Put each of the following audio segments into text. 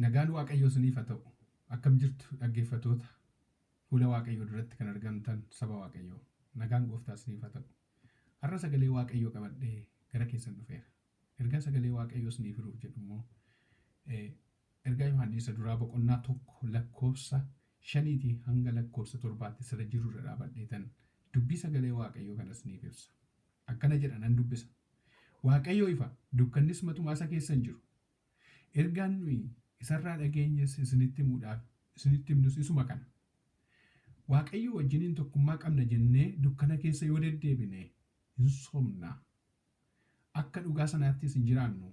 Nagaan Waaqayyoo isiniif haa ta'u. Akkam jirtu dhaggeeffatoota fuula Waaqayyoo duratti kan argamtan saba Waaqayyoo. Nagaan gooftaa isiniif haa ta'u. Har'a sagalee Waaqayyoo qabadhee gara keessan dhufeera. Ergaa sagalee Waaqayyoo isiniif hiruuf jedhu immoo Ergaa Yohaanni Isa Duraa boqonnaa 1 lakkoofsa 5tii hanga lakkoofsa 7tti sila jiru irra dhaabadheetan dubbii sagalee Waaqayyoo kana isiniif ibsa. Akkana jedha nan dubbisa. Waaqayyo ifa, dukkannis matumaa isa keessa hin jiru. Ergaan nuyi isa irraa dhageenyes isinitti himuudhaaf isinitti himnus isuma kana. Waaqayyoo wajjiniin tokkummaa qabna jennee dukkana keessa yoo deddeebine hin sobna. Akka dhugaa sanaattis hin jiraannu,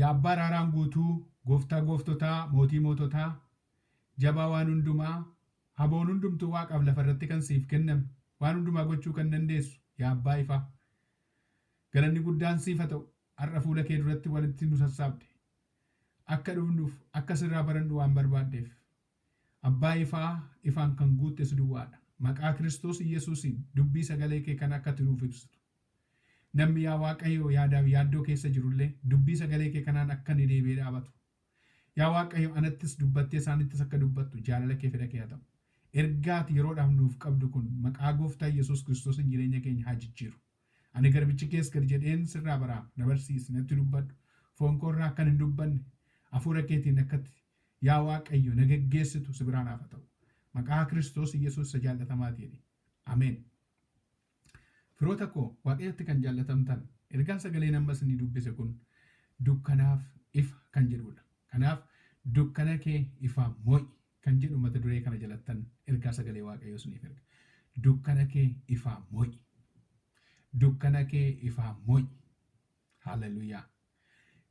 Yaa Abbaa araaraan guutuu, Gooftaa gooftotaa, Mootii moototaa, Jabaa waan hundumaa, Haboon hundumtuu waaqaaf lafa irratti kan siif kenname, waan hundumaa gochuu kan dandeessu, yaa Abbaa ifaa. Galanni guddaan siif ha ta'u, har'a fuula kee duratti walitti nu sassaabde. Akka dhufnuuf, akka sirraa barannu waan barbaaddeef. Abbaa ifaa ifaan kan guutte si duwwaa dha. Maqaa Kiristoos Iyyasuusiin dubbii sagalee kee kana akka ati nuuf ibsitu. Namni yaa Waaqayyo yaadaaf yaaddoo keessa jiru illee dubbii sagalee kee kanaan akka inni deebi'ee dhaabatu. Yaa Waaqayyo anattis dubbattee isaanittis akka dubbattu jaalala kee fedha kee haa ta'u. Ergaa ati yeroodhaaf nuuf qabdu kun maqaa gooftaa Iyyasuus Kiristoosiin jireenya keenya haa jijjiiru. Ani garbichi kees gad jedheen sirraa baraaf na barsiisi natti dubbadhu. Foon koo irraa akkan hin dubbanne hafuura keetiin akka ati Yaa Waaqayyo na geggeessitu si biraa naaf haa ta'u. Maqaa Kiristoos Iyyasuus isa jaallatamaatiin. Ameen. Firoota koo Waaqayyotti kan jaallatamtan, ergaan sagaleen amma isinii dubbise kun dukkanaaf ifa kan jedhuudha. Kanaaf dukkana kee ifaan mo'i kan jedhu mata duree kana jalattan ergaa sagalee Waaqayyoo isiniif erga. Dukkana kee ifaan mo'i. Dukkana kee ifaan mo'i. Haaleluyyaa.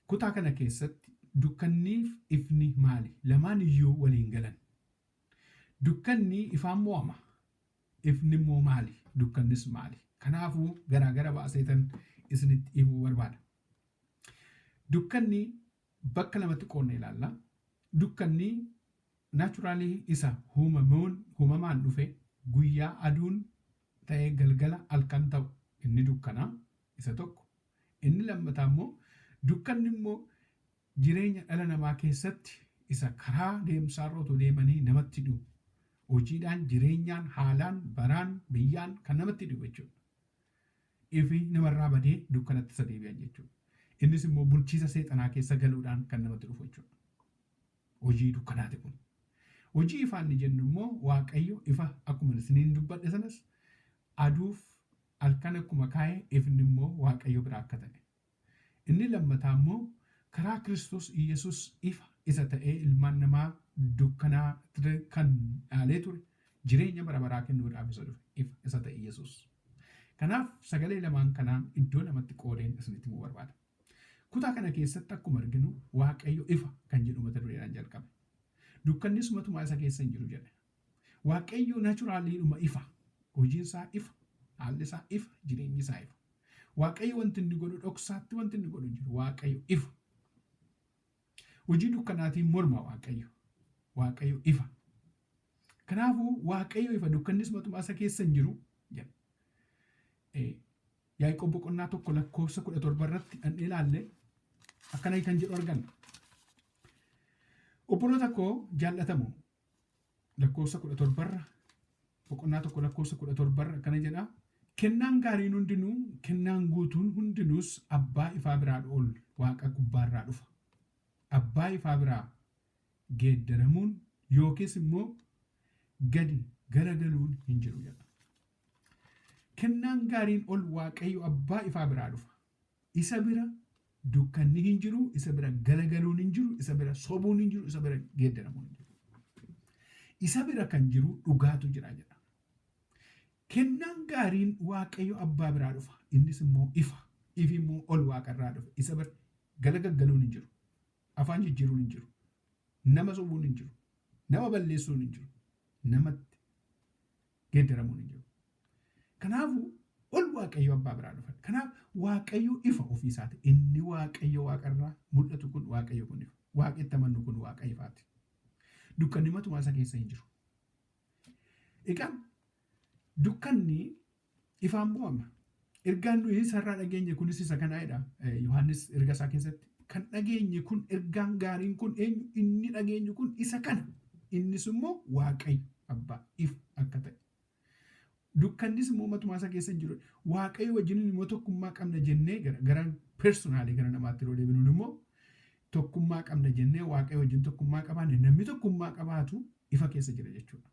Kutaa kana keessatti dukkanniif ifni maali? Lamaan iyyuu wal hin galan. Dukkanni ifaan mo'ama. Ifni immoo maali? Dukkannis maali? Kanaafuu garaa gara baaseetan isinitti himuu barbaada. Dukkanni bakka lamatti qoodne ilaalla. Dukkanni naachuraalii isa huumamuun huumamaan dhufe guyyaa aduun ta'ee galgala halkan ta'u inni dukkana. isa tokko. Inni lammataa immoo dukkanni immoo jireenya dhala namaa keessatti isa karaa deemsaarra otoo deemanii namatti dhi'u. Hojiidhaan, jireenyaan, haalaan, baraan, biyyaan kan namatti dhi'u jechuudha. Ifi namarraa badee dukkanatti isa deebi'an jechuudha. Innis immoo bulchiisa seexanaa keessa galuudhaan kan namatti dhufu jechuudha. Hojii dukkanaati kun. Hojii ifaa inni jennu immoo Waaqayyo ifa akkuma isiniin dubbadhe sanas aduuf Halkan akkuma kaa'e ifni immoo Waaqayyo biraa akka ta'e. Inni lammataa immoo karaa Kiristoos Iyyasuus ifa isa ta'ee ilmaan namaa dukkanaa ture kan dhaalee ture jireenya bara baraa kennuudhaaf isa dhufe ifa isa ta'e Iyyasuus. Kanaaf sagalee lamaan kanaan iddoo lamatti qoodeen isinitti himuu barbaada. Kutaa kana keessatti akkuma arginu Waaqayyo ifa kan jedhu mata dureedhaan jalqabe. Dukkannis matumaa isa keessa hin jiru jedhe. Waaqayyoo naturallyidhuma ifa. Hojiin isaa ifa, haalli isaa ifa, jireenyi isaa ifa. Waaqayyo wanti inni godhu dhoksaatti wanti inni godhu hin jiru. Waaqayyo ifa. Hojii dukkanaatiin morma Waaqayyo. Waaqayyo ifa. Kanaafuu Waaqayyo ifa dukkannis matumaa isa keessa hin jiru jedha. Eh, Yaaqoob boqonnaa tokko lakkoofsa kudha torba irratti dhandhee ilaalle akkana kan jedhu arganna. Obboloota koo jaallatamoo lakkoofsa kudha torbarra boqonnaa tokko lakkoofsa kudha torbarra akkana jedha kennaan gaariin hundinuu kennaan guutuun hundinuus abbaa ifaa biraa ol waaqa gubbaarraa dhufa abbaa ifaa biraa geeddaramuun yookiis immoo gadi garagaluun hin jiru jedha kennaan gaariin ol waaqayyo abbaa ifaa biraa dhufa Isa bira dukkanni hin jiru, isa bira galagaluun hin jiru, isa bira sobuun hin jiru, isa bira geeddaramuun hin jiru. Isa bira kan jiru dhugaatu jira jedha. Kennaan gaariin Waaqayyo abbaa biraa dhufa. Innis immoo ifa. Ifi immoo ol waaqarraa dhufe. Isa bira galagaggaluun hin jiru. Afaan jijjiiruun hin jiru. Nama sobuun hin jiru. Nama balleessuun hin jiru. Namatti geeddaramuun hin jiru. Kanaafuu ol Waaqayyo abbaa biraa dhufan. Kanaaf Waaqayyo ifa ofii isaati. Inni Waaqayyo waaqa irraa mul'atu kun Waaqayyo kun ifa. Waaqa itti amannu kun waaqa ifaati. Dukkanni matumaa isa keessa hin jiru. Egaa dukkanni ifaan mo'ama. Ergaan nuyi isa irraa dhageenye kunis isa kanaa jedha Yohaannis erga isaa keessatti. Kan dhageenye kun ergaan gaariin kun eenyu inni dhageenyu kun isa kana. Innis immoo Waaqayyo abbaa ifa akka ta'e. Dukkannis immoo matumaa isa keessa hin jiru. Waaqayyo wajjin immoo tokkummaa qabna jennee gara gara personaalii gara namaatti yeroo deebinuun immoo tokkummaa qabna jennee Waaqayyo wajjin tokkummaa qabaanne namni tokkummaa qabaatu ifa keessa jira jechuudha.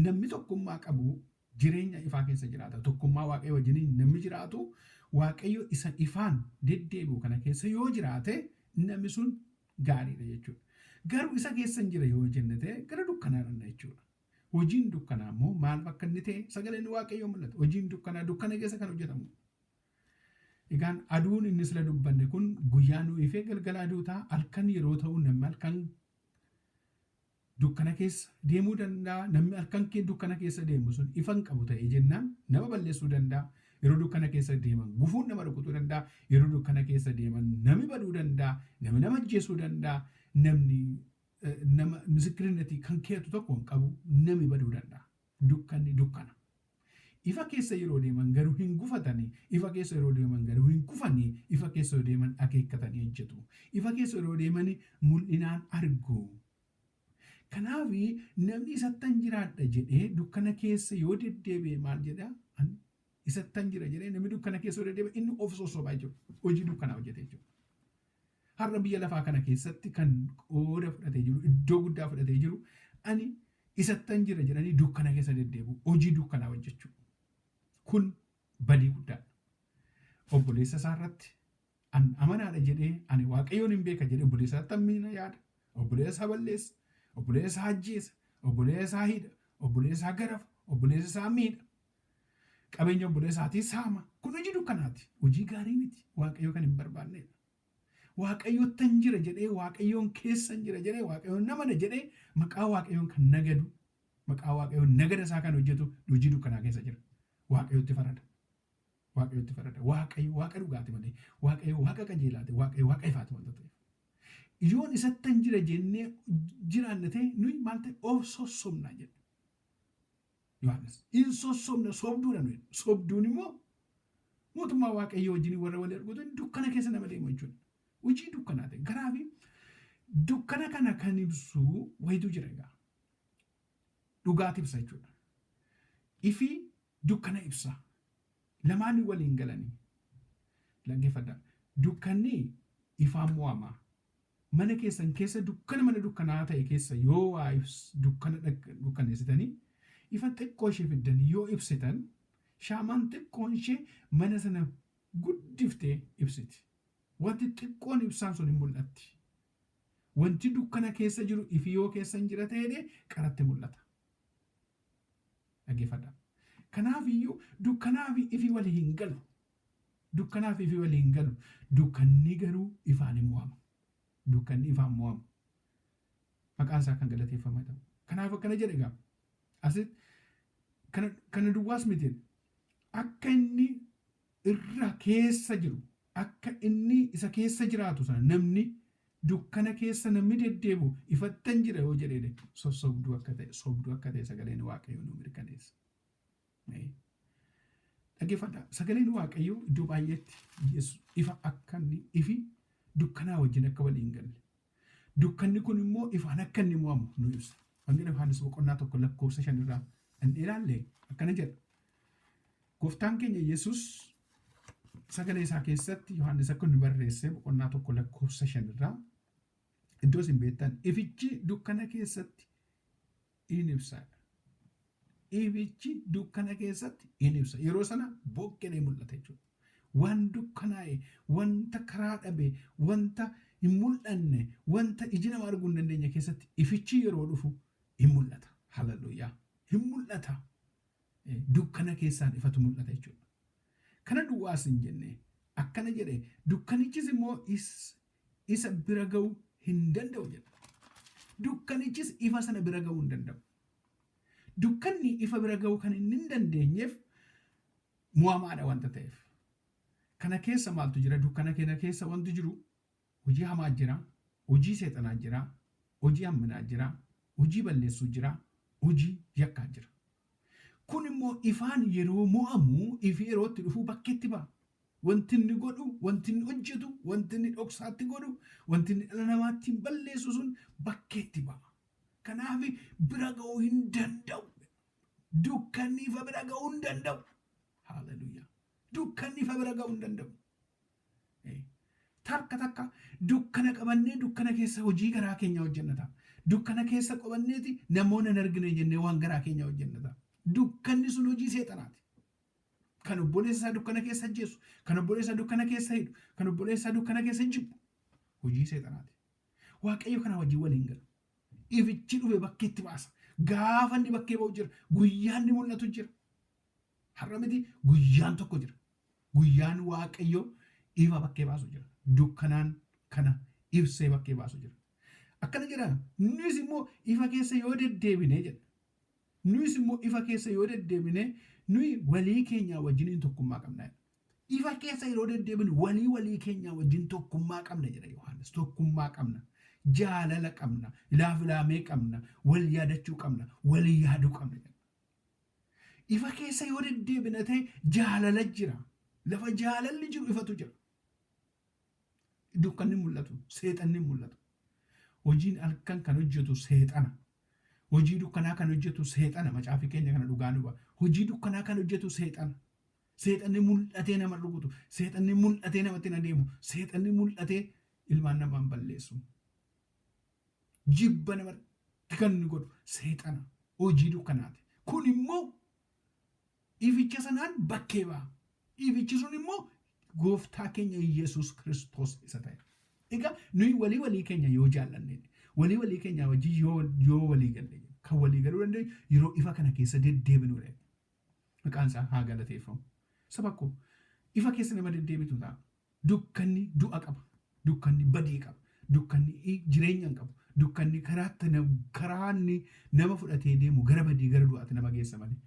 Namni tokkummaa qabu jireenya ifaa keessa jiraata. Tokkummaa Waaqayyo wajjiniin namni jiraatu Waaqayyo isa ifaan deddeebi'u kana keessa yoo jiraate namni sun gaariidha jechuudha. Garuu isa keessan jira yoo jenne ta'e gara dukkanaa dhanna jechuudha. Hojiin dukkanaa immoo maal bakka inni ta'e sagaleen Waaqayyoo mul'ata. Hojiin dukkanaa dukkana keessa kan hojjetamu. Egaan aduun inni sila dubbanne kun guyyaa nu ifee galgala aduu ta'a. Halkan yeroo ta'u namni halkan Dukkana keessa deemuu danda'a. Namni halkan kee dukkana keessa deemu sun ifa hin qabu ta'ee jennaan nama balleessuu danda'a. Yeroo dukkana keessa deeman gufuun nama rukutuu danda'a. Yeroo dukkana keessa deeman nami baduu danda'a. Nami nama ajjeesuu danda'a. Namni nama misikirinatii kan keeyatu tokko hin qabu. Nami baduu danda'a. Dukkanni dukkana. Ifa keessa yeroo deeman garuu hin gufatani, ifa keessa yeroo deeman garuu hin kufani, ifa keessa yoo deeman akeekkatanii hojjetu. Ifa keessa yeroo deeman mul'inaan argu. Kanaaf namni isattan jiraadha jedhee dukkana keessa yoo deddeebi'e maal jedha? Ani isattan jira jedhee namni dukkana keessa yoo deddeebi'e inni of sossoba jechuudha. Hojii dukkanaa hojjete jechuudha. Har'a biyya lafaa kana keessatti kan qooda fudhatee jiru, iddoo guddaa fudhatee jiru, ani isattan jira jedhanii dukkana keessa deddeebi'u, hojii dukkanaa hojjechuu. Kun badii guddaadha. Obboleessa isaa irratti an amanaadha jedhee, ani Waaqayyoon hin beeka jedhee obboleessa isaatti hammina yaada, obboleessa isaa balleessa, obboleessa isaa ajjeesa, obboleessa isaa hidha, obboleessa isaa garafa, obboleessa isaa miidha, Qabeenya obboleesaatii saama. Kun hojii dukkanaati. Hojii gaarii miti. Waaqayyo kan hin barbaanneedha. Waaqayyottan jira jedhee, Waaqayyoon keessan jira jedhee, Waaqayyoon nan amana jedhee maqaa Waaqayyoon kan nagadu, maqaa Waaqayyoon nagada isaa kan hojjetu hojii dukkanaa keessa jira. Waaqayyotti farada. Waaqayyotti farada. Waaqayyo Waaqa dhugaati malee, Waaqayyo Waaqa qajeelaati, Waaqayyo Waaqa ifaati wanta ta'eef. Yoon isattan jira jennee jiraanne ta'e nuyi maal ta'e of sossobna jedha. Yohaannis hin sossobna sobduudha nuyi. Sobduun immoo mootummaa waaqayyoo wajjin warra wal argatan dukkana keessa nama deemu jechuudha. Hojii dukkanaa ta'e garaa fi dukkana kana kan ibsu wayitu jira egaa. Dhugaati ibsa jechuudha. Ifi dukkana ibsa. Lamaan waliin galanii. Dhaggeeffadhaa. Dukkanni ifaan mo'ama. Mana keessan keessa dukkana mana dukkanaa'aa ta'e keessa yoo waa ibs dukkana dukkaneessitanii ifa xiqqoo ishee fiddanii yoo ibsitan shaamaan xiqqoon ishee mana sana guddiftee ibsiti. Wanti xiqqoon ibsaan sun hin mul'atti. Wanti dukkana keessa jiru ifi yoo keessa hin jira ta'eedhe qaratti mul'ata. Dhageeffadha. Kanaaf iyyuu dukkanaa fi ifi wali hin galu. Dukkanaaf ifi waliin galu. Dukkanni garuu ifaan in mo'ama. Dukkanni ifaan mo'ama. Maqaan isaa kan galateeffamaa ta'u. Kanaaf akkana jedha egaa. Asi kana kana duwwaas miti. Akka inni irra keessa jiru, akka inni isa keessa jiraatu sana namni dukkana keessa namni deddeebi'u ifattan jira yoo jedhee sossobduu akka ta'e, sobduu akka ta'e sagaleen Waaqayyoo nuu mirkaneessa. Dhaggeeffadhaa sagaleen Waaqayyoo iddoo baay'eetti Yesus ifa akka inni ifi dukkanaa wajjin akka walii hin galle. Dukkanni kun immoo ifaan akka inni mo'amu nu ibsa. Wangeela Yohaannis boqonnaa tokko lakkoofsa shan irraa dhandhee ilaalle akkana jedha. Gooftaan keenya Yesus sagalee isaa keessatti Yohaannis akka inni barreesse boqonnaa tokko lakkoofsa shan irraa iddoo isin beektan ifichi dukkana keessatti in ibsa. Ifichi dukkana keessatti in ibsa. Yeroo sana bokkeen in mul'ata jechuudha. Waan dukkanaa'e, wanta karaa dhabe, wanta hin mul'anne, wanta iji nama arguu hin dandeenye keessatti ifichi yeroo dhufu in mul'ata. Hallelujah. Hin mul'ata. Eh, Dukkana keessaan ifatu mul'ata jechuudha. Kana duwwaas hin jenne. Akkana jedhe, dukkanichis immoo is isa bira ga'uu hin danda'u jedha. Dukkanichis ifa sana bira ga'uu hin danda'u. Dukkanni ifa bira ga'uu kan inni hin dandeenyeef mo'amaadha wanta ta'eef. Kana keessa maaltu jira? Dukkana keenya keessa wanti jiru hojii hamaa jira, hojii seexanaa jira, hojii hamminaa jira, hojii balleessuu jira, hojii yakkaa jira. Kun immoo ifaan yeroo mo'amu ifi yeroo itti dhufuu bakkeetti ba'a. Wanti inni godhu, wanti inni hojjetu, wanti inni dhoksaatti godhu, wanti inni dhala namaa ittiin balleessu sun bakkeetti ba'a. Kanaaf bira ga'uu hin danda'u. Dukkanni ifa bira ga'uu hin danda'u. Haaleluyyaa. Dukkanni ifa bira ga'uu hin danda'u. Takka takka dukkana qabannee dukkana keessa hojii garaa keenyaa hojjenna ta'a. Dukkana keessa qabanneeti namoonni hin argine jennee waan garaa keenyaa hojjenna ta'a. Dukkanni sun hojii seexanaati. Kan obboleessa isaa dukkana keessa ajjeesu, kan obboleessa dukkana keessa hidhu, kan obboleessa dukkana keessa jibbu hojii seexanaati. Waaqayyo kanaa wajjin waliin gala. Ifichi dhufe bakkeetti baasa. Gaafa inni bakkee ba'u jira. Guyyaan ni mul'atu jira. Har'a miti guyyaan tokko jira. Guyyaan Waaqayyo ifa bakkee baasu jira. Dukkanaan kana ibsee bakkee baasu jira. Akkana jedha nuyis immoo ifa keessa yoo deddeebine jedha. Nuyis immoo ifa keessa yoo deddeebine nuyi walii keenyaa wajjiniin tokkummaa qabna jedha. Ifa keessa yeroo deddeebinu walii walii keenyaa wajjin tokkummaa qabna jedha Yohaannis. Tokkummaa qabna. Jaalala qabna. Ilaafilaamee qabna. Wal yaadachuu qabna. Wal yaaduu qabna jedha. Ifa keessa yoo deddeebina ta'e jaalala jira. Lafa jaalalli jiru ifatu jira. Dukkanni mul'atu, seexanni mul'atu. Hojiin halkan kan hojjetu seexana. Hojii dukkanaa kan hojjetu seexana. Macaafii keenya kana dhugaa nu ba'a. Hojii dukkanaa kan hojjetu seexana. Seexanni mul'atee nama rukutu, seexanni mul'atee namatti hin adeemu, seexanni mul'atee ilmaan namaan balleessu. jibba namatti kan inni godhu seexana hojii dukkanaati. Kun immoo ificha sanaan bakkee ba'a. Ifichi sun immoo gooftaa keenya Yesuus Kiristoos isa ta'e. Egaa nuyi walii walii keenya yoo jaallanne walii walii keenya wajjin yoo yoo walii galle kan walii galuu dandeenyu yeroo ifa kana keessa deddeebinu dha. Maqaan isaa haa galateeffamu. Saba koo ifa keessa nama deddeebitu ta'a. Dukkanni du'a qaba. Dukkanni badii qaba. Dukkanni i jireenya hin qabu. Dukkanni karaatti na karaa inni nama fudhatee deemu gara badii gara du'aatti nama geessa malee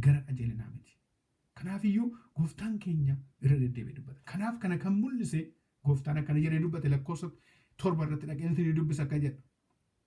gara qajeelinaa miti. Kanaaf iyyuu gooftaan keenya irra deddeebi'ee dubbata. Kanaaf kana kan mul'ise gooftaan akkana jedhee dubbate lakkoofsa torba irratti dhaqeen isinii dubbisa akka jedhu.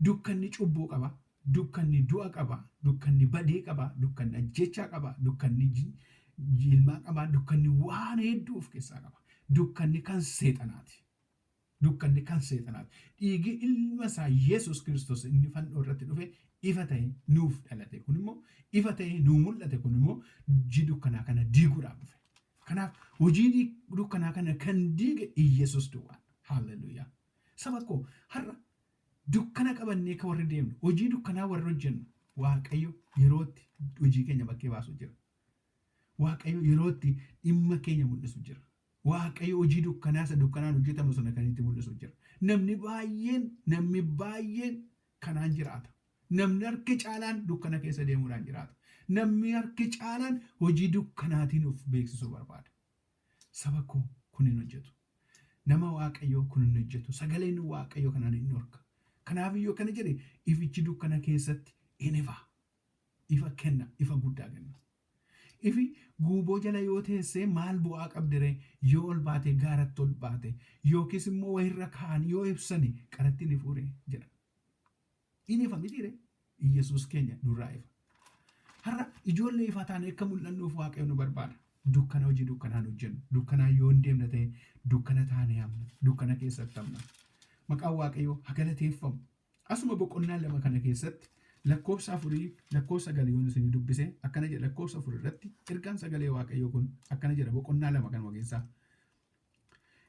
Dukkanni cubbuu qaba, dukkanni du'a qaba, dukkanni badii qaba, dukkanni ajjeechaa qaba, dukkanni jilmaa qaba, dukkanni waan hedduu of keessaa qaba. Dukkanni kan seexanaati. Dukkanni kan seexanaati. Dhiigi ilma isaa Yesuus Kiristoos inni fannoo irratti dhufe ifa ta'e nuuf dhalate kun immoo ifa ta'e nuu mul'ate kun immoo hojii dukkanaa kana diiguudhaaf dhufe. Kanaaf hojii dukkanaa kana kan diige Iyyasuus duwwaadha. Haalleluuyaa. Saba koo, har'a dukkana qabannee ka warri deemnu, hojii dukkanaa warri hojjennu, Waaqayyo yeroo itti hojii keenya bakkee baasu jira. Waaqayyo yeroo itti dhimma keenya mul'isu jira. Waaqayyo hojii dukkanaa isa dukkanaan hojjetamu sana kan itti mul'isu jira. Namni baay'een, namni baay'een kanaan jiraata. Namni harki caalaan dukkana keessa deemuudhaan jiraata. Namni harki caalaan hojii dukkanaatiin of beeksisuu barbaada. Saba koo kun hin hojjetu. Nama Waaqayyoo kun hin hojjetu. Sagaleen Waaqayyoo kana ni dhorka. Kanaaf iyyuu akkana jedhe ifichi dukkana keessatti in ifa. Ifa kenna, ifa guddaa kenna. Ifi guuboo jala yoo teessee maal bu'aa qabdiree yoo ol baatee gaaratti ol baate yookiis immoo wayirra kaa'an yoo ibsani qaratti ni fuure jedha. Hin ifa mitiire Iyyasuus keenya nurraa ifa. Har'a ijoollee ifaa taanee akka mul'annuuf Waaqayyo nu barbaada. Dukkana hojii dukkanaan hojjennu, dukkanaan yoo hin deemne ta'e dukkana taanee hamna, dukkana keessatti hamna. Maqaan Waaqayyoo ha galateeffamu. Asuma boqonnaa lama kana keessatti lakkoofsa afurii lakkoofsa sagal yoon isinii dubbise akkana jedha lakkoofsa afur irratti ergaan sagalee Waaqayyoo kun akkana jedha boqonnaa lama kanuma keessaa.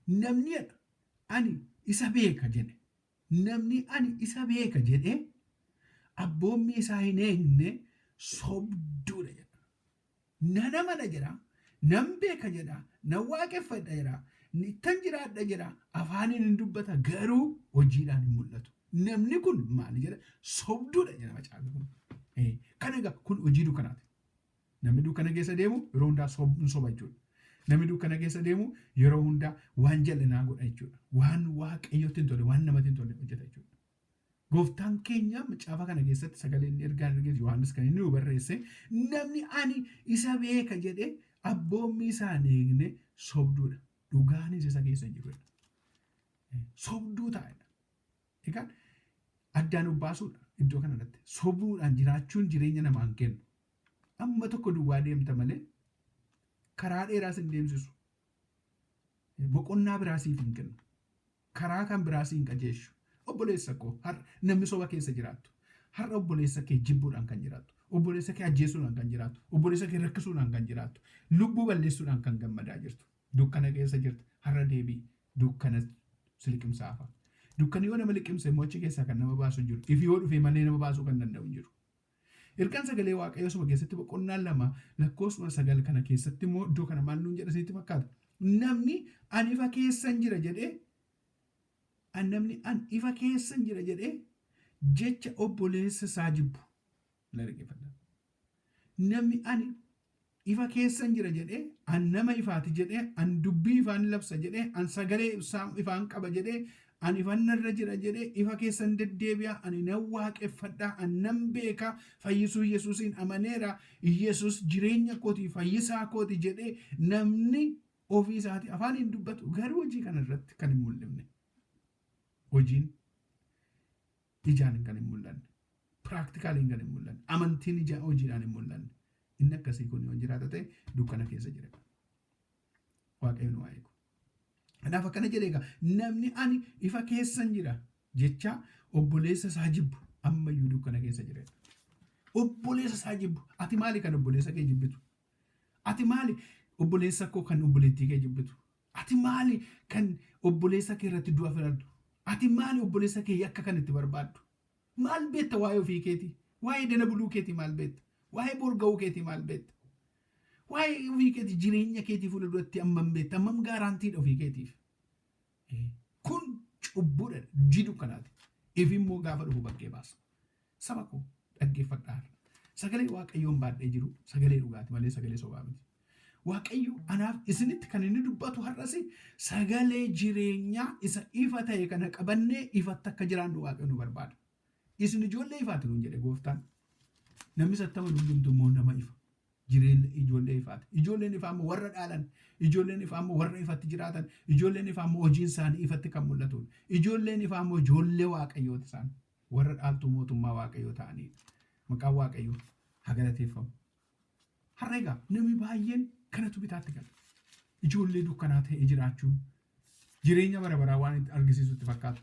Namni jedha ani isa beeka jedhe Namni ani isa beeka jedhee abboommii isaa hin eegne sobduu dha jedha. Nan amana jedha, nan beeka jedha, nan waaqeffadha jedha, ittan jiraadha jedha, afaaniin in dubbata garuu hojiidhaan hin mul'atu. Namni kun maal jedha? Sobduu dha jedha macaafni kun. Ee, Kana egaa kun hojii dukkanaati. Namni dukkana keessa deemu yeroo hundaa sob- hin soba jechuudha. Namni dukkana keessa deemu yeroo hundaa waan jal'inaa godha jechuudha. Waan waaqayyotti hin tolle, waan namatti hin tolle hojjeta jechuudha. Gooftaan keenya macaafa kana keessatti sagalee inni ergaan ergeetu Yohaannis kan inni nu barreesse namni ani isa beeka jedhee abboommii isaa hin eegne sobduudha. Dhugaanis isa keessa hin jiru. Sobduu taa'edha. Egaan addaan of baasuudha iddoo kanarratti. Sobuudhaan jiraachuun jireenya namaan kennu. Amma tokko duwwaa deemta malee karaa dheeraa sin deemsisu. Boqonnaa biraa siif hin kennu. Karaa kan biraa siin qajeeshu. Obboleessa koo har namni soba keessa jiraattu. Har'a obboleessa kee jibbuudhaan kan jiraattu. Obboleessa kee ajjeesuudhaan kan jiraattu. Obboleessa kee rakkisuudhaan kan jiraattu. Lubbuu balleessuudhaan kan gammadaa jirtu. Dukkana keessa jirta. Har'a deebi'i. Dukkana si liqimsaa hafa. Dukkani yoo nama liqimse immoo achi keessaa kan nama baasu hin jiru. Ifi yoo dhufee malee nama baasuu kan danda'u hin jiru. Ergaan sagalee waaqayyoo saba keessatti boqonnaa 2 lakkoofsuma 9 kana keessatti immoo iddoo kana maal nuun jedha isinitti fakkaata? Namni an ifa keessan jira jedhee an namni an ifa keessan jira jedhee jecha obboleessa isaa jibbu. Na dhaggeeffadha. Namni ani Ifa keessan jira jedhe, an nama ifaati jedhe, an dubbii ifaa ni labsa jedhe, an sagalee ibsaa ifaan qaba jedhe, an ifan narra jira jedhe, ifa keessa hin deddeebi'a, ani nan waaqeffadha, an nan beeka, fayyisuu Yesuusiin amaneera, Yesuus jireenya kooti, fayyisaa kooti jedhee namni ofii isaatii afaaniin dubbatu garuu hojii kana irratti kan hin mul'ifne. Hojiin ijaan kan hin mul'anne piraaktikaalii kan hin mul'anne amantiin ijaa hojiidhaan hin mul'anne inni akkasii kun yoo jiraata ta'e dukkana keessa jira waaqayyo nu haa eegu. Kanaaf akkana jedhee egaa namni ani ifa keessan jira jecha obboleessa isaa jibbu ammayyuu dukkana keessa jira. Obboleessa isaa jibbu ati maali kan obboleessa kee jibbitu? Ati maali obboleessa koo kan obboleettii kee jibbitu? Ati maali kan obboleessa kee irratti du'a filattu? Ati maali obboleessa kee yakka kan itti barbaaddu? Maal beekta waa'ee ofii keetii? Waa'ee dana buluu keetii maal beekta? Waa'ee boor ga'uu keetii maal beekta? Waa'ee ofii keetii jireenya keetii fuula duratti hammam beekta? Hammam gaaraantiidha ofii keetiif? Kun cubbuudha, hojii dukkanaati. Ifi immoo gaafa dhufu bakkee baasa. Saba koo, dhaggeeffadhaa har'a. Sagalee Waaqayyoon baadhee jiru sagalee dhugaati malee sagalee sobaa miti. Waaqayyo anaaf isinitti kan inni dubbatu har'as sagalee jireenyaa isa ifa ta'e kana qabannee ifatti akka jiraannu Waaqayyo nu barbaada. Isin ijoollee ifaati nuun jedhe gooftaan. Namni sattama hundumtu immoo nama ifa. Jireenya ijoollee ifaati. Ijoolleen ifaa immoo warra dhaalan, ijoolleen ifaa immoo warra ifatti jiraatan, ijoolleen ifaa immoo hojiin isaanii ifatti kan mul'atudha. Ijoolleen ifaa immoo ijoollee Waaqayyooti isaan. Warra dhaaltuu mootummaa Waaqayyoo ta'aniif maqaan Waaqayyoo haa galateeffamu. Har'a egaa namni baay'een kanatu bitaatti gala. Ijoollee dukkanaa ta'ee jiraachuun jireenya bara baraa waan itti argisiisu itti fakkaata.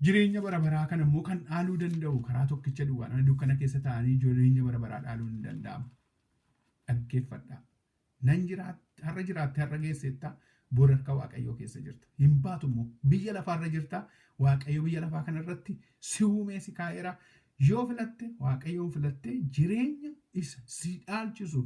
Jireenya bara baraa kana immoo kan dhaaluu danda'u karaa tokkicha duwwaadha. Dukkana keessa taa'anii jireenya bara baraa dhaaluun hin danda'amu. Dhaggeeffadhaa. Nan jiraat, har'a jiraattee har'a geesseetta, bor harka Waaqayyoo keessa jirta. Hin baatu immoo. Biyya lafaa irra jirta, Waaqayyo biyya lafaa kana irratti si uumee si kaa'eera. Yoo filatte, Waaqayyoon filattee jireenya isa si dhaalchisu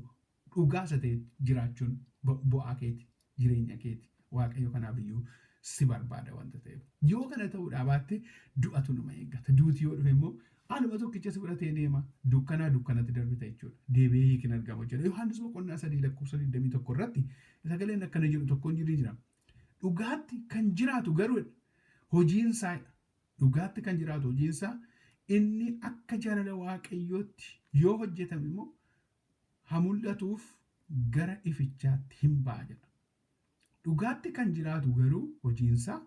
dhugaa isa ta'e jiraachuun bu- bu'aa keeti, jireenya keeti. Waaqayyo kanaaf iyyuu si barbaada wanta ta'eef. Yoo kana ta'uudhaa baatte du'atu nama eeggata. Duuti yoo dhufe immoo anuma tokkicha si fudhatee deema. Dukkanaa dukkanatti darbita jechuudha. Deebi'ee hiiki hin argamu jechuudha. Yohaannis boqonnaa sadii lakkoofsa 21 irratti sagaleen akkana jedhu tokko ni jira. Dhugaatti kan jiraatu garuu hojiin isaa dhugaatti kan jiraatu hojiin isaa inni akka jaalala waaqayyootti yoo hojjetame immoo ha mul'atuuf gara ifichaatti hin ba'a jedha. Dhugaatti kan jiraatu garuu hojiinsaa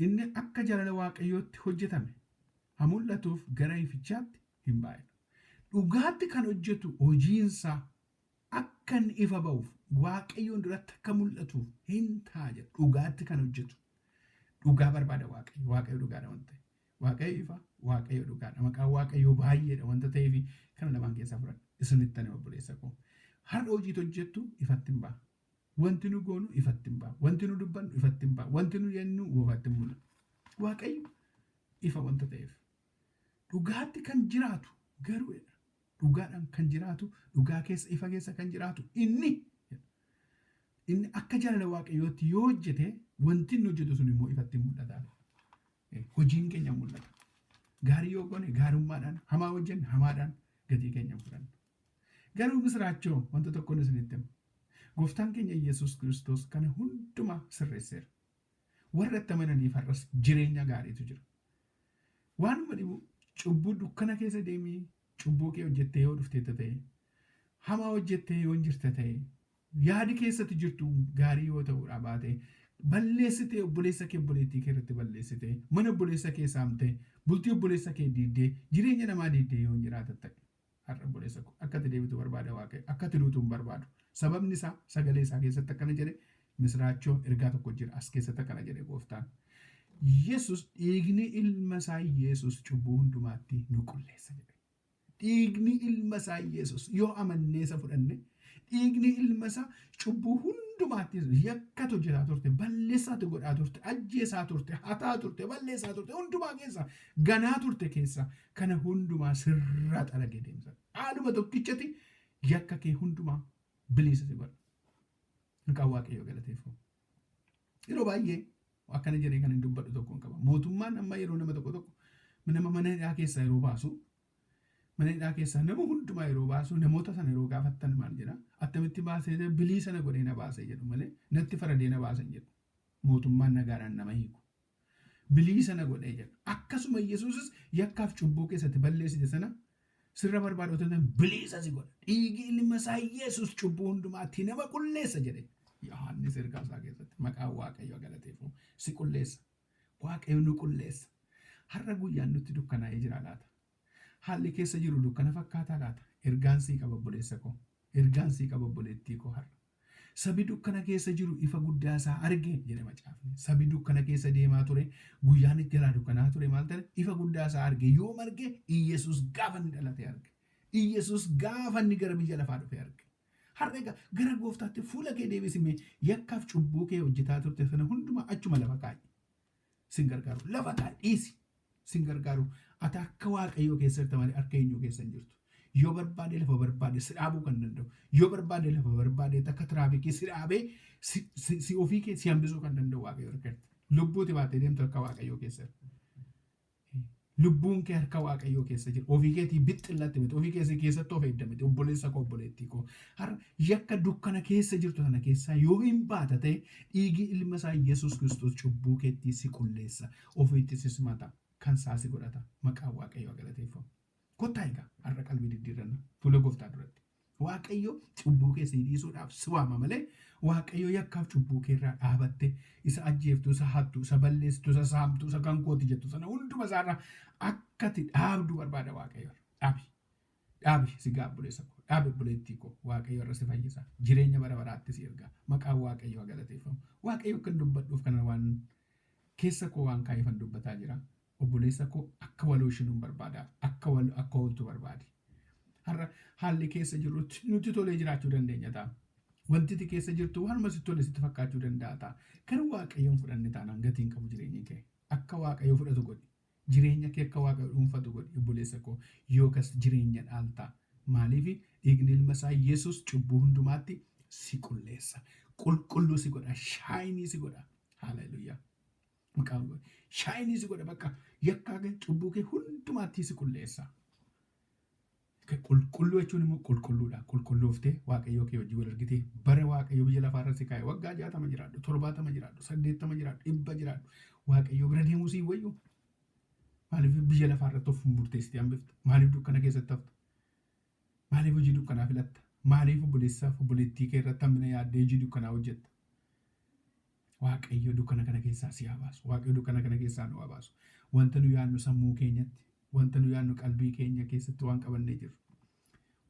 inni akka jaalala Waaqayyootti hojjetame ha mul'atuuf gara ifichaatti hin baay'atu. Dhugaatti kan hojjetu hojiinsaa akka inni ifa ba'uuf, Waaqayyoon duratti akka mul'atuuf hin ta'a jedha. Dhugaatti kan hojjetu dhugaa barbaada Waaqayyo. Waaqayyo dhugaadha waan ta'eef. Waaqayyo ifa, Waaqayyo dhugaadha. Maqaan Waaqayyoo baay'eedha wanta ta'eef kana lamaan keessaa fudhadha. Isinitti ani obboleessa koo. Har'a hojiit hojjettu ifatti hin ba'a. Wanti nu goonu ifatti hin ba'a. Wanti nu dubbannu ifatti hin ba'a. Wanti nu jennu goofatti hin mul'ata. Waaqayyo ifa wanta ta'eef. Dhugaatti kan jiraatu garuu jedha. Dhugaadhaan kan jiraatu, dhugaa keessa, ifa keessa kan jiraatu inni jedha. Inni akka jaalala Waaqayyootti yoo hojjete wanti inni hojjetu sun immoo ifatti hin mul'ata. hojiin keenya mul'ata. Gaarii yoo goone gaarummaadhaan, hamaa hojjenne hamaadhaan gatii keenya hin fudhannu. Garuu misiraachoo wanta tokkoon isinitti hima. Gooftaan keenya Yesuus Kiristoos kana hundumaa sirreesseera. Warra itti amananiif har'as jireenya gaariitu jira. Waanuma dhibu cubbuu dukkana keessa deemii cubbuu kee hojjettee yoo dhufteetta ta'e, hamaa hojjettee yoo hin jirta ta'e, Yaadi keessatti jirtu gaarii yoo ta'uudhaa baate, balleessitee obboleessa kee obboleettii kee irratti balleessitee, mana obboleessa kee saamtee, bultii obboleessa kee diiddee, jireenya namaa diiddee yoo hin jiraata ta'e, har'a obboleessa koo akka ati deebitu barbaada Waaqayyo, akka ati duutu hin barbaadu. Sababni isaa sagalee isaa keessatti akkana jedhe, misiraachoo ergaa tokko jira as keessatti akkana jedhe gooftaan. Yesus dhiigni ilma isaa Yesus cubbuu hundumaatti nu qulleessa jedhe. dhiigni ilma isaa Yesus yoo amannee isa fudhanne dhiigni ilma isaa cubbuu hundumaattis yakkatu jiraa turte balleessaatu godhaa turte ajjeesaa turte hataa turte balleessaa turte hundumaa keessa ganaa turte keessa kana hundumaa sirraa xaragee deemsa haaluma tokkichati yakka kee hundumaa biliisa si godha maqaa waaqayyoo galateeffamu. Yeroo baay'ee akkana jedhee kan hin dubbadhu tokkoon qaba. Mootummaan amma yeroo nama tokko tokko nama mana hidhaa keessaa yeroo baasu mana hidhaa keessaa nama hundumaa yeroo baasu namoota sana yeroo gaafattan maal jedha attamitti baasee bilii sana godhee na baasee jedhu malee natti faradee na baasan jedhu mootummaan nagaadhaan nama hiiku. biliisa na godhe jedha. Akkasuma Yesuusis yakkaaf cubbuu keessatti balleessite sana sirra barbaada otoo ta'an biliisa si godha. Dhiigi ilma isaa Yesuus cubbuu hundumaatti nama qulleessa jedhe. Yohaannis ergaa isaa keessatti maqaan Waaqayyoo galateeffamu si qulleessa. Waaqayyo nu qulleessa. Har'a guyyaan nutti dukkanaa'ee jira laata? Haalli keessa jiru dukkana fakkaataa laata? Ergaan sii qaba obboleessa koo. Ergaan sii qaba obboleettii koo har'a. Sabi dukkana keessa jiru ifa guddaa isaa arge jedha macaafni. Sabi dukkana keessa deemaa ture, guyyaan itti jalaa dukkanaa ture maal ta'e? Ifa guddaa isaa arge. Yoom arge? Iyyesuus gaafa inni dhalate arge. Iyyesuus gaafa inni gara biyya lafaa dhufe arge. Har'a egaa gara gooftaatti fuula kee deebisi mee yakkaaf cubbuu kee hojjetaa turte sana hundumaa achuma lafa kaa'i. sin gargaaru lafa kaa dhiisi sin gargaaru ati harka waaqayyoo keessa jirta malee harka eenyuu keessa hin jirtu yoo barbaade lafa barbaade si dhaabuu kan danda'u yoo barbaade lafa barbaade takka tiraafikii si dhaabee si, si, si ofii kee si hambisuu kan danda'u waaqayyoo harka jirta lubbuuti baatee deemtu harka waaqayyoo keessa jirta Lubbuun kee harka Waaqayyoo keessa jira. Ofii keetii bixxillatti miti. Ofii keessa keessatti of eegda miti. Obboleessa koo obboleettii koo. Har'a yakka dukkana keessa jirtu sana keessaa yoo hin baata ta'e dhiigii ilma isaa Yesuus Kiristoos cubbuu keettii si qulleessa. Ofiitti si simata. Kan isaa si godhata. Maqaan Waaqayyoo galateeffamu. Kottaa egaa har'a qalbii diddiirranna fuula gooftaa duratti. Waaqayyo cubbuu kee sii dhiisuudhaaf si waama malee Waaqayyo yakkaaf cubbuu kee irraa dhaabatte isa ajjeeftu, isa hattu, isa balleessitu, isa saamtu, isa kan kooti jettu sana hunduma isaarraa akka ati dhaabdu barbaada Waaqayyo. Dhaabi. Dhaabi sigaa obboleessa koo. Dhaabi obboleettii koo. Waaqayyo irra si fayyisa. Jireenya bara baraatti si erga. Maqaan Waaqayyo haa galateeffamu. Waaqayyo akkan dubbadhuuf kana waan keessa koo waan kaa'eefan dubbataa jira. Obboleessa koo akka wal hooshinuun barbaada. Akka wal akka hooltu barbaadi. Har'a haalli keessa jirru nutti tolee jiraachuu dandeenya ta'a. Wanti ati keessa jirtu waanuma sitti tole sitti fakkaachuu danda'a ta'a. Garuu Waaqayyoon fudhanne taanaan gatii hin qabu jireenyi kee. Akka Waaqayyo fudhatu godhi. Jireenya kee akka Waaqayyo dhuunfatu godhi obboleessa koo. Yookas jireenya dhaalta. Maaliif dhiigni ilma isaa Yesuus cubbuu hundumaatti si qulleessa. Qulqulluu si godha. Shaayinii si godha. Haaleluyyaa. maqaa Waaqayyoo. Shaayinii si godha bakka yakkaa kee cubbuu kee hundumaattii si qulleessa. Qulqulluu jechuun immoo qulqulluudha. Qulqullooftee waaqayyoo kee wajjin wal argitee bara waaqayyoo biyya lafaa irra si kaa'e waggaa jaatama jiraadhu, torbaatama jiraadhu, saddeettama jiraadhu, dhibba jiraadhu. Waaqayyoo bira deemuu sii wayyu. Maaliif biyya lafaa irratti of murteessitee hambifta? Maaliif dukkana keessatti hafta? Maaliif hojii dukkanaa filatta? Maaliif obboleessaaf obboleettii kee irratti hammina yaaddee hojii dukkanaa hojjetta? Waaqayyo dukkana kana keessaa si haa baasu. Waaqayyo dukkana kana keessaa nu haa baasu. Wanta nu yaadnu sammuu keenyatti, wanta nu yaadnu qalbii keenya keessatti waan qabannee jirru.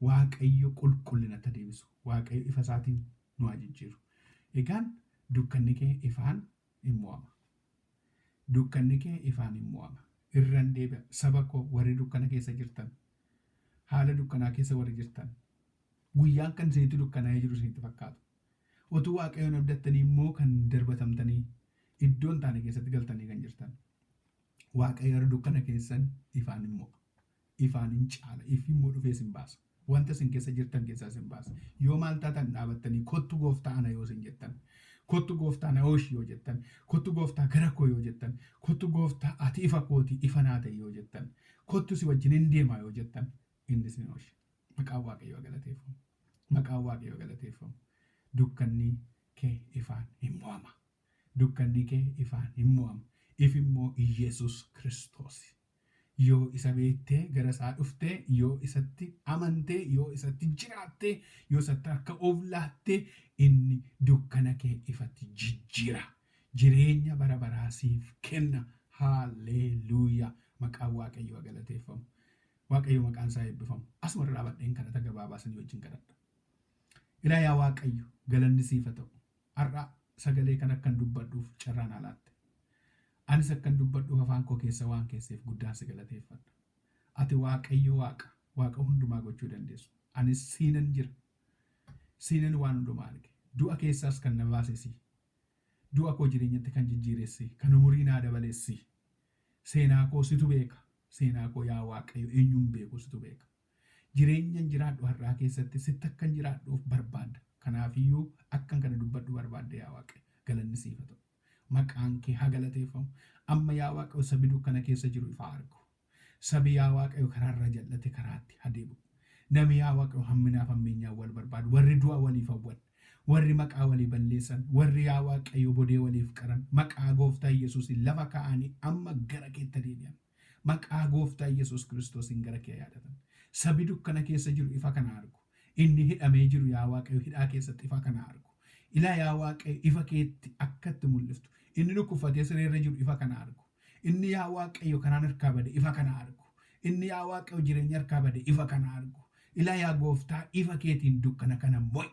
Waaqayyo qulqullinatti haa deebisu. Waaqayyo ifa isaatiin nu haa jijjiiru. Egaan dukkanni kee ifaan in mo'ama. Dukkanni kee ifaan in mo'ama. Irran deebi'a. Saba koo warri dukkana keessa jirtan, haala dukkanaa keessa warri jirtan, guyyaan kan isinitti dukkanaa'ee jiru isinitti fakkaatu. Utuu Waaqayyoon abdattanii immoo kan darbatamtanii, iddoo hin taane keessatti galtanii kan jirtan. Waaqayyo warra dukkana keessan ifaan in mo'a. Ifaan in caala. Ifi immoo dhufee isin baasa. Wanta isin keessa jirtan keessaa isin baasa. Yoo maal taatan dhaabattanii kottu gooftaa ana yoo isin jettan, kottu gooftaa na ooshi yoo jettan, kottu gooftaa gara koo yoo jettan, kottu gooftaa ati ifa kooti ifa naa ta'e yoo jettan, kottu si wajjin in deema yoo jettan, Indismenosh maqaan waaqayyoo agalateeffamu maqaan waaqayyoo agalateeffamu dukkannii kee ifaan hin mo'ama dukkannii kee ifaan hin mo'ama if immoo iyyeesuus kiristoosi yoo isa beektee gara isaa dhuftee yoo isatti amantee yoo isatti jiraattee yoo isatti harka of laattee inni dukkana kee ifatti jijjiira jireenya bara baraa siif kenna haalleeluuyaa maqaan waaqayyoo agalateeffamu Waaqayyo maqaan isaa eebbifamu. Asuma irra dhaabadheen kadhata gabaabaa isinii wajjin kadhadha. Ilaa yaa Waaqayyo galanni siif haa ta'u. Har'a sagalee kana akkan dubbadhuuf carraa naa laatte. Anis akkan dubbadhuuf afaan koo keessa waan keesseef guddaan si galateeffadha. Ati Waaqayyo Waaqa, Waaqa hundumaa gochuu dandeessu. Anis siinan jira. Siinan waan hundumaa arge. Du'a keessaas kan na baase si. Du'a koo jireenyatti kan jijjiires si. Kan umurii naa dabales si. Seenaa koo situ beeka. Seenaa koo yaa Waaqayyo eenyu hin beeku situ beeka. Jireenyan jiraadhu har'aa keessatti sitti akkan jiraadhuuf barbaadda. Kanaafiyyuu akkan kana dubbadhu barbaadde yaa Waaqayyo. Galanni siif haa ta'u. Maqaan kee haa galateeffamu. Amma yaa Waaqayyo sabi dukkana keessa jiru ifa haa argu. Sabi yaa Waaqayyo karaa irraa jal'ate karaatti haa deebi'u. Nami yaa Waaqayyo hamminaaf hammeenyaan wal barbaadu, warri du'a waliif hawwan, Warri maqaa walii balleessan, warri yaa Waaqayyo bodee waliif qaran, maqaa Gooftaa Yesuusiin lafa kaa'anii amma gara keetti haa deebi'an. Maqaa Gooftaa Yesuus Kiristoosiin gara kee haa yaadatan. Sabi dukkana keessa jiru ifa kana haa argu. Inni hidhamee jiru yaa Waaqayyo hidhaa keessatti ifa kana haa argu. Ilaa yaa Waaqayyo ifa keetti akka itti mul'iftu. Inni dhukkubfatee siree irra jiru ifa kana haa argu. Inni yaa Waaqayyo kanaan harkaa bade ifa kana argu. Inni yaa Waaqayyo jireenya harkaa bade ifa kana argu. Ilaa yaa gooftaa ifa keetiin dukkana kana mo'i.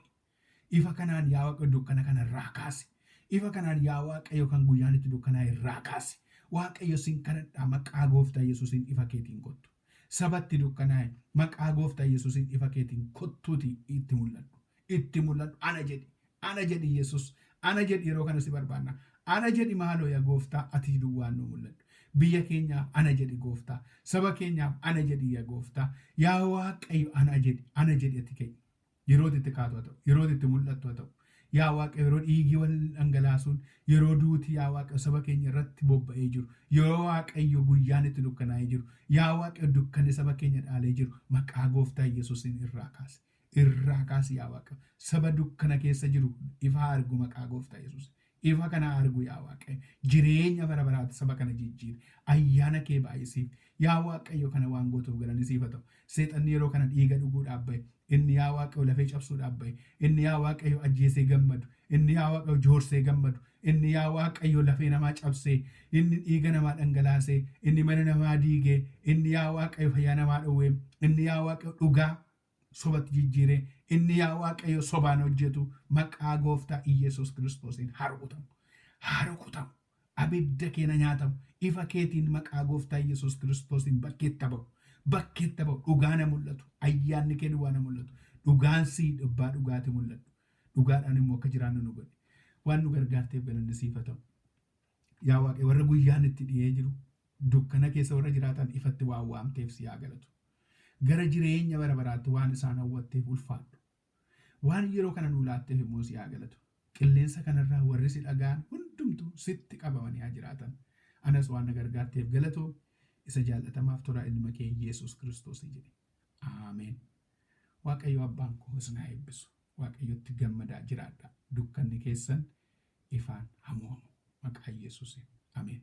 Ifa kanaan yaa Waaqayyo dukkana kana irraa kaasi. Ifa kanaan yaa Waaqayyo kan guyyaan itti dukkanaa'e irraa kaasi. Waaqayyo sin kadhadhaa maqaa gooftaa Yesuusiin ifa keetiin kottu. Saba itti dukkanaa'e, maqaa Gooftaa Yesuusiin ifa keetiin kottuutii itti mul'adhu. Itti mul'adhu. Ana jedhi. Ana jedhi Yesuus. Ana jedhi yeroo kana si barbaanna. Ana jedhi maaloo ya Gooftaa ati duwwaan nuu mul'adhu. Biyya keenyaaf ana jedhi Gooftaa. Saba keenyaaf ana jedhi ya Gooftaa. Yaa Waaqayyo ana jedhi. Ana jedhi ati ka'i. Yerooti itti kaatu haa ta'u, yerooti itti mul'attu haa ta'u, yaa Waaqayyo yeroo dhiigii wal dhangalaasuun, yeroo duuti yaa Waaqayyo saba keenya irratti bobba'ee jiru, yeroo Waaqayyo guyyaan itti dukkanaa'ee jiru, yaa Waaqayyo dukkanni saba keenya dhaalee jiru, maqaa gooftaa Yesuusiin irraa kaasi. Irraa kaasi yaa Waaqayyo. Saba dukkana keessa jiru ifa haa argu maqaa gooftaa Yesuusiin. Ifa kana haa argu yaa Waaqayyo. Jireenya bara baraatti saba kana jijjiiri. Ayyaana kee baay'isiif. Yaa Waaqayyo kana waan gootuuf galanni siif haa ta'u. Seexanni yeroo kana dhiiga dhuguudhaaf ba'e. Inni yaa Waaqayyo lafee cabsuudhaaf ba'e. Inni yaa Waaqayyo ajjeesee gammadu. Inni yaa Waaqayyo joorsee gammadu. Inni yaa Waaqayyo lafee namaa cabsee. Inni dhiiga namaa dhangalaasee. Inni mana namaa diigee. Inni yaa Waaqayyo fayyaa namaa dhowwee. Inni yaa Waaqayyo dhugaa sobatti jijjiire, inni yaa Waaqayyo sobaan hojjetu maqaa gooftaa Iyyasuus Kiristoosiin haa rukutamu. Haa rukutamu. Abidda kee na nyaatamu. Ifa keetiin maqaa gooftaa Iyyasuus Kiristoosiin bakkeetti ha ba'u. Bakkeetti ha ba'u. Dhugaa na mul'atu. Ayyaanni kee duwwaa na mul'atu. Dhugaan sii dhubbaa dhugaati mul'adhu. Dhugaadhaan immoo akka jiraannu nu godhi. Waan nu gargaarteef galanni siif ha ta'u. Yaa Waaqayyo warra guyyaan itti dhiyee jiru dukkana keessa warra jiraatan ifatti waan waamteef si haa galatu. Gara jireenya bara baraatti waan isaan hawwatteef ulfaadhu. Waan yeroo kana nuu laatteef immoo si haa galatu. Qilleensa kanarraa warri si dhaga'an hundumtuu sitti qabamanii haa jiraatan. Anas waan na gargaarteef galatoomi. Isa jaallatamaaf toraa ilma kee Yesuus Kiristoosii jedhi. Aameen. Waaqayyo abbaan koo isin haa eebbisu. Waaqayyotti gammadaa jiraadhaa. Dukkanni keessan ifaan haa mo'amu. Maqaa Yesuusiin. Ameen.